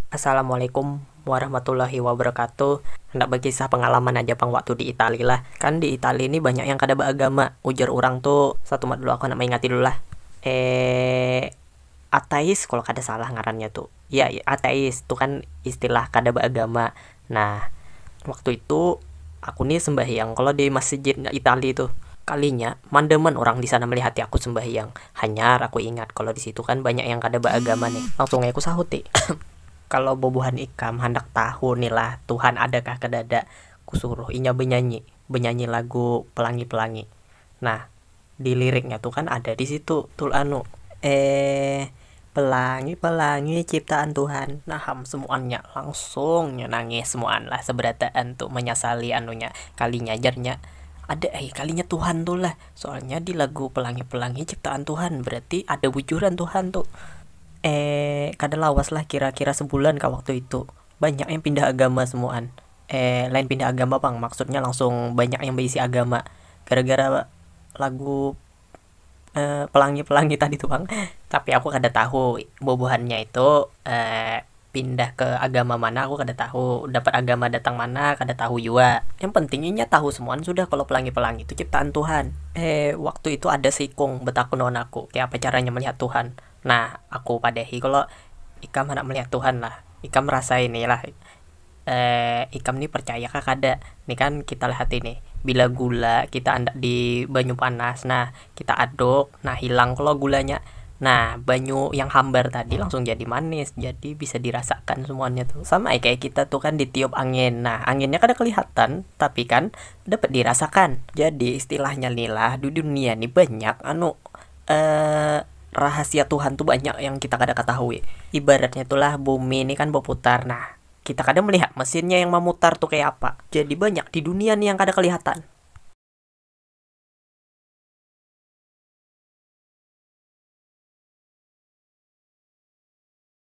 Assalamualaikum warahmatullahi wabarakatuh, handak bakisah pangalaman aja pang waktu di Itali lah, kan di Itali ni banyak yang kada baagama ujar urang tu, satumat dulu aku handak maingati dulu lah, atheis kalo kada salah ngarannya tu, ya atheis tu kan istilah kada baagama Nah, waktu itu aku ni sembahyang kalo di masjid itali tu. Kalinya mandaman urang di sana melihati aku sembahyang. Hanyar aku ingat kalo di situ kan banyak yang kada baagama nih. Langsung ai aku sahuti, Kalo bubuhan ikam handak tahu ni lah Tuhan ada kah kadada, ku suruh inya benyanyi, benyanyi lagu Pelangi-Pelangi. Nah. Di liriknya tu kan ada di situ tul anu, eh pelangi pelangi ciptaan tuhan. Nah am semuannya langsung nya nangis semuan lah seberataan tu menyasali anunya kalinya jarnya ada ai kalinya tuhan tu lah soalnya di lagu pelangi pelangi ciptaan tuhan berarti ada bujuran tuhan tu eh kada lawas lah kira kira sebulan kah waktu itu banyak yang pindah agama semuan lain pindah agama pang maksudnya langsung banyak yang baisi agama gara gara lagu pelangi pelangi tadi tu pang tapi aku kada tahu bubuhannya itu pindah ke agama mana aku kada tahu dapat agama datang mana kada tahu jua yang penting inya tahu semuan sudah kalo pelangi pelangi tu ciptaan tuhan waktu itu ada seikung betakun lawan aku kaya apa caranya melihat tuhan nah aku padahi kalo ikam handak melihat tuhan lah ikam rasai ni lah. Eh, ikam ni percaya kah kada? Ni kan kita lihati nih, bila gula kita andak di banyu panas nah, kita aduk, nah hilang klo gulanya. Nah, banyu yang hambar tadi langsung jadi manis, jadi bisa dirasakan semuanya tuh. Sama ai kaya kita tuh kan ditiup angin, nah anginnya kada kelihatan tapi kan dapat dirasakan. Jadi istilahnya ni lah, di dunia ni banyak anu, rahasia Tuhan tu banyak yang kita kada katahui. Ibaratnya tu lah bumi ni kan baputar nah, kita kada melihat mesinnya yang mamutar tu kaya apa. Jadi banyak di dunia ni yang kada kelihatan.